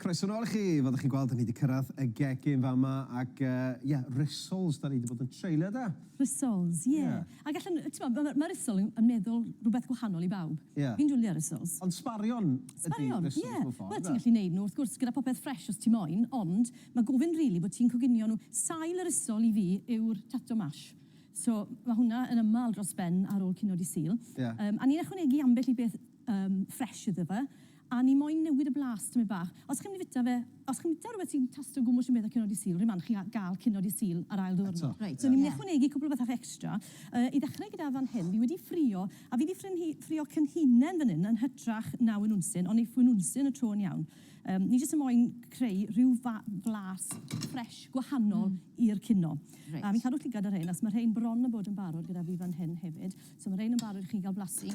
Croeso nôl i chi, fel ydych chi'n gweld, ni wedi cyrraedd y gegin fama ac uh, yeah, Rissoles, da ni wedi bod yn treulio da. Rissoles, ie. Yeah. Yeah. Ac allan, ti'n ma, mae Rissol yn, yn meddwl rhywbeth gwahanol i bawb. Yeah. Fi'n dwlio Rissoles. Ond sbarion, sbarion ydy Rissoles yeah. mewn ffordd. Wel, ti'n gallu neud nhw, wrth gwrs, gyda popeth ffres os ti moyn, ond Mae gofyn rili bod ti'n coginio nhw. Sail yr ysol i fi yw'r tato mash. So mae hwnna yn ymal dros ben ar ôl cino dy Sul. Ie. Yym a ni'n ychwanegu ambell i beth yym fresh iddo fe a ni moyn newid y blas tymed bach. Os chi'n mynd i fita fe, os chi'n bita rhywbeth sy'n tasto gwmws unwaith ar cino dy Sul, r'un man chi'n gal cino dy Sul ar ail ddiwrnod. Eto. Reit. So ni'n mynd i ychwanegu cwpl o bethach extra. Yy i ddechrau gyda fan hyn, fi wedi ffrio a fi 'di ffrynhu- ffrio cynhinen fan hyn yn hytrach na winwnsyn, ond neith winwnsyn y tro yn iawn. Yym, ni jyst yn moyn creu rhyw fa- flas ffresh, gwahanol i'r cino. Reit. A fi'n cadw llygad ar rhein, achos ma' rhein bron a bod yn barod gyda fi fan hyn hefyd. So ma' rhein yn barod i chi ga'l blasu.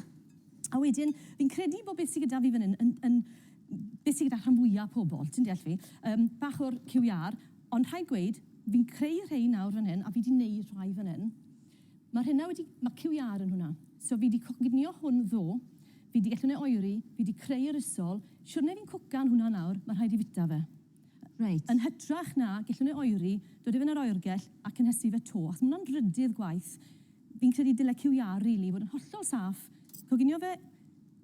A wedyn, fi'n credu bo' beth sy gyda fi fan hyn yn yn beth sy gyda rhan fwya pobol, ti'n deall fi? Yym, bach o'r cyw iâr, ond rhaid gweud, fi'n creu rhein nawr fan hyn, a fi 'di neud rhai fan hyn. Mae rhena wedi, mae cyw iâr yn hwnna. So fi di coginio hwn ddo, fi di gallu neu oeri, fi di creu yr isol, siwrne fi'n cwcan hwnna nawr, mae rhaid i fita fe. Reit. Yn hytrach na gallu neu oeri, dod i fe yn yr oergell a cynhesu fe to, achos mae hwnna'n drydydd gwaith. Fi'n credu dyle cyw iâr rili fod yn hollol saff, coginio fe,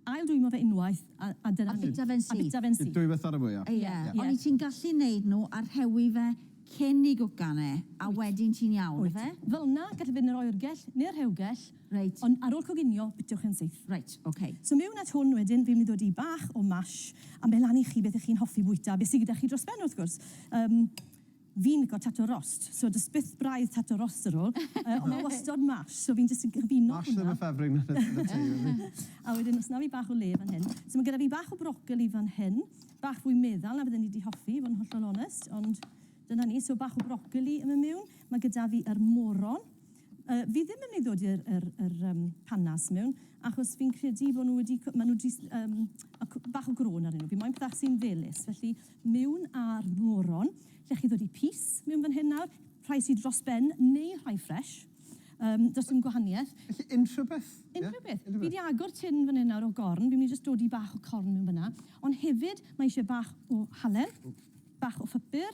Ail dwymo fe unwaith a a dyna ni. A bita fe'n syth. A bita fe'n syth. Dwy waith ar y fwya. Ie. Ie. Oni ti'n gallu neud nhw a rhewi fe cyn i gwcan e a wedyn ti'n iawn. Wyt. Ife? Felna gallai fyn yr oergell neu'r rhewgell. Reit. Ond ar ôl coginio bitiwch e'n syth. Reit. Ok. So mewn at hwn wedyn fi'n mynd i ddod i bach o mash a meddlanu chi beth y'ch chi'n hoffi bwyta, be sy gyda chi dros ben wrth gwrs. Yym. Fi'n lico tato rost, so does byth braidd tato rost ar ôl, yy ond mae wastod mash, so fi'n jyst yn cyfuno hwnna. Mash ddim yn ffefryn yn y tŷ yma rili. A wedyn o's 'na fi bach o le fan hyn. So ma' gyda fi bach o brocoli fan hyn, bach fwy meddal na fydden i 'di hoffi i fod yn hollol onest, ond dyna ni. So bach o brocoli yn myn' miwn. Ma' gyda fi yr moron. Yy fi ddim yn myn' i ddod i'r yr yr yym panas miwn, achos fi'n credu bo' nw wedi co- ma' nw jyst yym ma' cw- bach o grôn arnyn nw. Fi moyn pethe sy'n felys, felly mewn ar moron, lle chi ddod i pys mewn fan hyn nawr, rhai sy dros ben neu rhai ffresh, yym does dim gwahaniaeth. Felly unrhyw beth? Unrhyw beth. Fi di agor tin fan hyn nawr o gorn, fi'n mynd i jyst dodi bach o corn mewn fan'na, ond hefyd mae eisiau bach o halen, bach o phupur,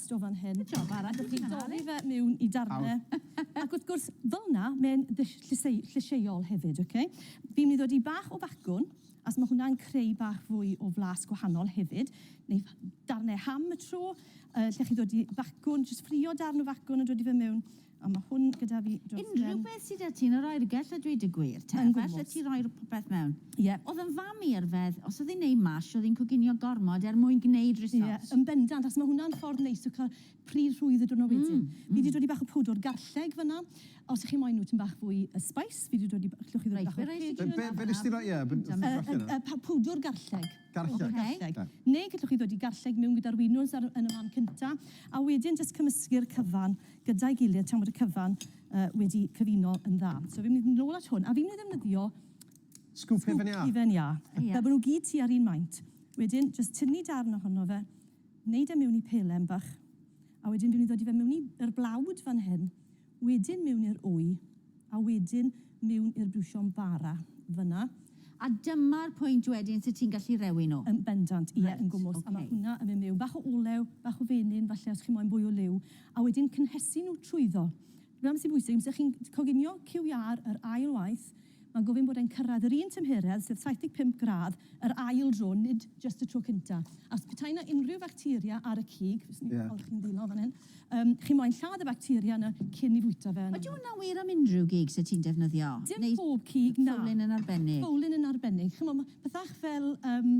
Jyst o fan hyn. Good job Ara. Allwch chi dorri fe miwn i darne. Ac wrth gwrs, fel 'na, mae'n ddull llyseu- llysieuol hefyd, oce? Fi'n mynd i ddodi bach o bacwn, as ma' hwnna'n creu bach fwy o flas gwahanol hefyd, neu darne ham y tro, yy lle chi ddodi bacwn, jyst ffrio darn o facwn a dodi fe miwn. A ma hwn gyda fi dros ben. Unrhyw beth sy 'da ti yn yr oergell a dweud y gwir te. Yn gwmws. Falle ti roi'r popeth mewn. Ie. O'dd yn fam i yrfedd, os o'dd 'i'n neud mash o'dd 'i'n coginio gormod er mwyn gneud risot. Ie, yn bendant, achos ma hwnna'n ffordd neis o ca'l pridd rhwydd y diwrnod wedyn. Mm, mm. Fi 'di dodi bach o pwdwr garlleg fynna, os 'ych chi moyn nhw tym bach fwy yy spice, fi 'di dodi b- allwch chi ddodi bach o pwdwr. Reit, be' rai sy gin y garlleg? Be' be' nes ti roi, ie, be' nes ti roi allan? Yy yy yy pa- pwdwr garlleg. Garlleg. O, garlleg. Neu gallwch chi ddod i garlleg miwn gyda'r winwns ar, yn y man cynta, a wedyn jyst cymysgu'r cyfan gyda'i gilydd tan bod y cyfan uh, wedi cyfuno yn dda. So fi'n mynd nôl at hwn, a fi'n mynd i ddefnyddio Sgwp hufen iâ. Hufen iâ. Yeah. Fel bod nhw gyd tu ar un maint. Wedyn, jyst tynnu darn ohono fe, wneud e mewn i pelen bach, a wedyn dwi'n mynd i ddod i fe mewn i'r blawd fan hyn, Wedyn miwn i'r wy, a wedyn miwn i'r busion bara, fynna. A dyma'r pwynt wedyn sut ti'n gallu rewi nhw? Yn bendant, ie, yn gwmws. A mae hwnna yn mynd miwn. Bach o olew, bach o fenyn falle os chi moyn bwy o liw, a wedyn cynhesu nhw trwyddo. Dyma beth sy'n bwysig, amser chi'n coginio cyw iâr yr ail waith, Mae'n gofyn bod e'n cyrraedd yr un tymheredd, sef 75 gradd, yr ail dro, nid jyst y tro cynta. A os petai 'na unrhyw facteria ar y cig, fyswn i'n falch chi'n ddillo fan hyn, yym, chi moyn lladd y facteria 'na cyn 'i fwyta fe. Ydy hwnna'n wir am unrhyw gig 'set ti'n defnyddio? Dim pob cig, na. Fowlin yn arbennig? Fowlin yn arbennig. Ch'mo', ma' pethach fel, yym,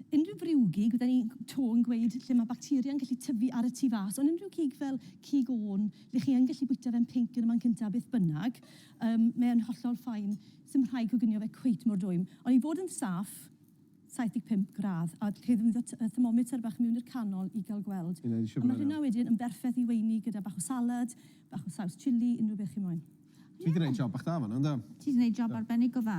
unrhyw friwgig, fydden ni 'to yn gweud lle ma' bacteria'n gallu tyfu ar y tu fas, ond unrhyw gig fel cig ôn, lle chi yn gallu bwyta fe'n pinc yn y man cynta, beth bynnag, Yym, mae e'n hollol fine. Sdim rhaid coginio fe cweit mor dwym. Ond i fod yn saff, 75 gradd, a chi ddefnyddio t- yy thermometer bach mewn i'r canol i ga'l gweld. Ie, isio gweld nawr. A ma' hynna wedyn yn berffeth i weini gyda bach o salad, bach o saws chilli, unrhyw beth chi moyn. Ti 'di neud job bach da fan 'na, yndo? Ti 'di neud job arbennig o dda.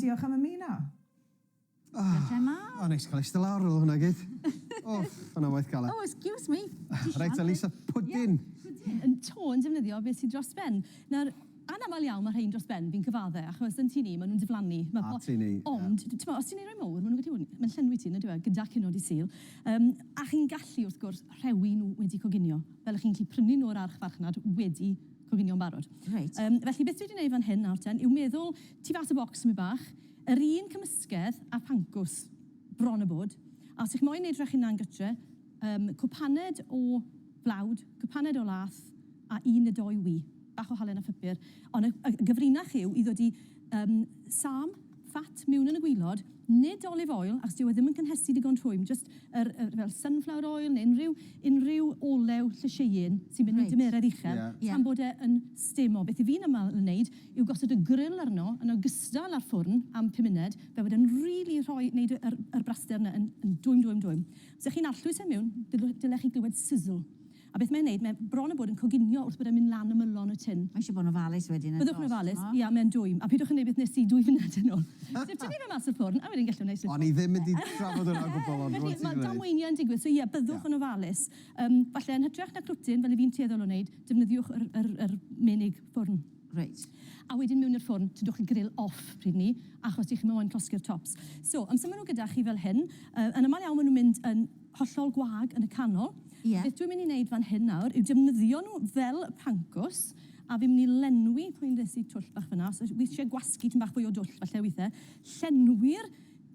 Diolch am ymuno. Tara te mam. O, o neis cael eistedd lawr ar ôl hwnna gyd. O, fan 'na waith galed. Oh, excuse me. Reit te Lisa, pwdin. Pwdin. Yn to yn defnyddio beth sydd dros ben. Nawr, anaml iawn mae rhein dros ben, fi'n cyfadde, achos yn tŷ ni maen nhw'n diflannu. A tŷ ni, ie. Ond, timod, os ti'n ei roi mowr, maen nhw'n gallu bod yn... Mae'n llenwi ti, yn yndyw e, gyda cino Dydd Sul. Yym, a chi'n gallu, wrth gwrs, rhewi nhw wedi coginio. fel y'ch chi'n gallu prynu nhw o'r archfarchnad wedi coginio'n barod. Reit. Yym, felly beth dwi 'di neud fan hyn nawr ten yw meddwl tu fas y bocs tipyn bach, yr un cymysgedd â pancws, bron a bod, a os y'ch moyn neud rhech hunan gytre, yym cwpaned o flawd, cwpaned o lath, a un ne' dou wy, bach o halen a phupur, ond y y gyfrinach yw i ddodi yym sâm, fat miwn yn y gwilod, nid olive oil achos dyw e ddim yn cynhesu digon rhwym, jyst yr yy fel sunflower oil neu unrhyw unrhyw olew llysieuyn sy'n mynd mewn dymeredd uchel tan bod e yn stêm o. Beth 'yf fi'n aml yn neud yw gosod y grill arno yn ogystal â'r ffwrn am pum munud fel bod e'n rili rhoi neud y yr yr braster 'na yn yn dwym dwym dwym. Os 'ych chi'n arllwys e miwn, dyle dyle chi glywed sizzle. A beth mae'n neud, mae bron a bod yn coginio wrth bod e'n mynd lan ymylon y tun. Mae eisiau bod yn ofalus wedyn yn does? Byddwch yn ofalus, ia, mae'n dwym. A peidiwch yn neud beth nes i dwy funud yn ôl. Sef tynnu fe mas o'r ffwrn a wedyn gellwn neud slipo. O'n i ddim mynd i drafod hwnna o gwbl ond rwan ti di neud. Mae damweiniau yn digwydd, so ie, byddwch yn ofalus. Yym, falle yn hytrach na clwtyn, fel 'y fi'n tueddol o neud, defnyddiwch yr yr yr menig ffwrn. Reit. A wedyn mewn i'r ffwrn, tynwch y grill off pryd 'ny, achos dych chi moyn llosgi'r tops. So, amser ma' nw gyda chi fel hyn, yy yn amal iawn ma' nw'n mynd yn hollol gwag yn y canol. Ie. Beth dwi'n mynd i neud fan hyn nawr yw defnyddio nhw fel pancws, a fi'n mynd i lenwi, pwy nes i twll bach fan'na, os wi isie gwasgu tym bach fwy o dwll falle withe, llenwi'r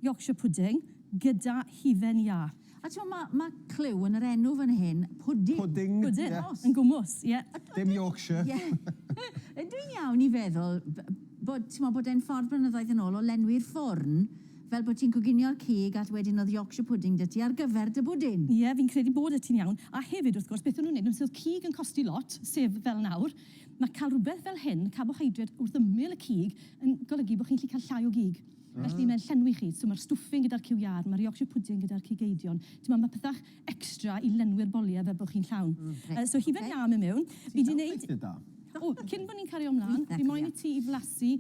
Yorkshire pudding gyda hufen iâ. A t'mo' ma' ma' clyw yn yr enw fan hyn, pwdin. Pwdin. Pwdin. Ie. Yn gwmws, ie. Dim Yorkshire. Ie. Ydw i'n iawn i feddwl b- bod, t'mo', bod e'n ffordd blynyddoedd yn ôl o lenwi'r ffwrn Fel bod ti'n coginio'r cig all wedyn oedd Yorkshire pudding 'da ti ar gyfer dy bwdin! Ie, fi'n credu bod y ti'n iawn, a hefyd wrth gwrs beth o'n nhw'n neud nhw sef oedd cig yn costi lot, sef fel nawr, ma cael rhywbeth fel hyn, carbohydrate wrth ymyl y cig, yn golygu bod chi'n gallu cael llai o gig. Felly mae'n llenwi chi, so ma'r stwffing gyda'r cyw iâr, ma'r Yorkshire pudding gyda'r cig eidion, t'mod ma pethach extra i lenwi'r bolie fel bod chi'n llawn. Yy so hufen iâ mewn, fi di neud... Ti'n cael gweithio da. O, cyn bo ni'n cario mlan, fi moyn i ti i flasu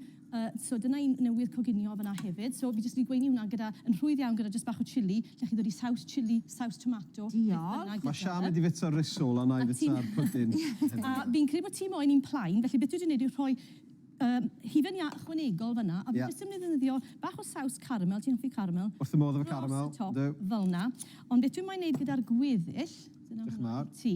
So dyna un newydd coginio fan'na hefyd. So fi jyst wedi gweini hwnna gyda, yn rhwydd iawn gyda jyst bach o chilli, lle chi'n dod i saws chilli, saws tomato... Diolch! Mae Sian wedi fita rissole a wna i fita'r pwdin hefyd. A fi'n credu bod ti moyn un plain, felly beth dwi wedi wneud yw rhoi yym hufen iâ ychwanegol fan'na, a fi jyst yn defnyddio bach o saws caramel, ti'n hoffi caramel? Wrth fy modd efo caramel, yndw. Dros y top, fel'na. Ond beth dwi moyn wneud gyda'r gweddill, dyna hwnna i ti.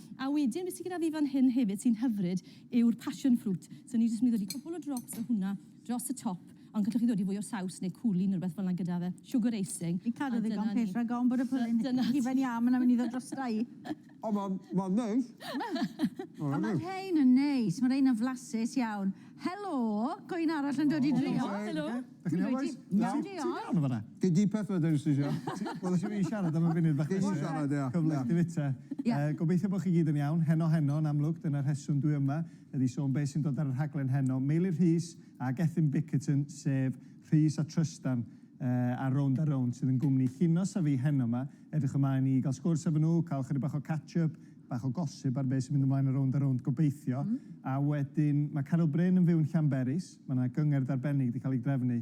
A wedyn be sy gyda fi fan hyn hefyd sy'n hyfryd yw'r passion fruit. So ni jyst mynd i ddodi cwpwl o drops o hwnna dros y top, ond gallwch chi ddodi fwy o saws neu cwli neu rwbeth fel 'na gyda fe. Sugar icing. Fi'n cadw ddigon pell rhag ofn bod y pwlyn hufen iâ ma 'na'n myn' i ddod drosta i. O ma ma'n neis. Ma'n hyfryd. Ma rhein yn neis, ma rein yn flasus iawn. Helo! Co un arall yn dod i drio. Helo. Dach chi'n iawn bois? Iawn diolch. Ti'n iawn yn fanna? Gen di peth ma dwi jyst isio. Wel nes i fi siarad am y funud bach nesa. Ti isio siarad ia. Cyfle i fita. Ia. Yy gobeithio bo chi gyd yn iawn. Heno heno yn amlwg dyna'r rheswm dwi yma ydi sôn be sy'n dod ar y rhaglen heno. Meilir Rhys a Gethin Bickerton sef Rhys a Trystan yy ar Rownd a Rownd sydd yn gwmni Llinos a fi heno ma. Edrych ymlaen i ga'l sgwrs efo nhw, ca'l chydig bach o catch up, bach o gossip ar be sy'n mynd ymlaen ar Rownd a Rownd gobeithio. A wedyn ma' Caryl Bryn yn fyw yn Llanberis. Mae yna gyngerdd arbennig wedi cael ei drefnu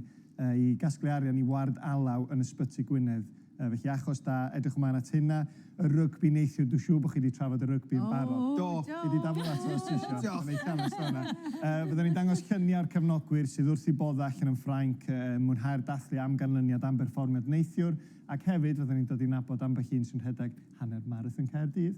i gasglu arian i ward alaw yn Ysbyty Gwynedd. Felly achos da, edrych ymlaen at hynna. Y rygbi neithiwr, dwi'n siŵr bod chi wedi trafod y rygbi yn barod. Do, gei di daflu ato os ti isio. Diolch. Mae'n eitha onest o hynna. Fydden ni'n dangos lluniau o'r cefnogwyr sydd wrth eu boddau allan yn Ffrainc yn mwynhau'r dathlu am ganlyniad am berfformiad neithiwr ac hefyd fydden ni'n dod i nabod ambell un sy'n rhedeg hanner marathon Caerdydd.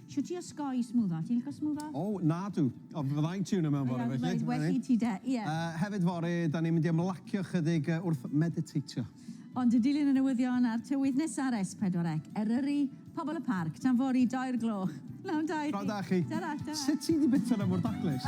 Shwt i osgoi smwddo? Ti'n licio smwddo? O, nadw. O, fydda i'n tiwno mewn fore felly. Ie, well i ti de, ie. Hefyd fore, da ni'n mynd i ymlacio chydig wrth mediteitio. Ond yn dilyn y newyddion a'r tywydd nesa ar S4C, Eryri, pobl y parc, tan fory, doi'r gloch. Pnawn da i chi. Pnawn da chi. Tara, tara. Sut ti 'di bita 'na mor daclus?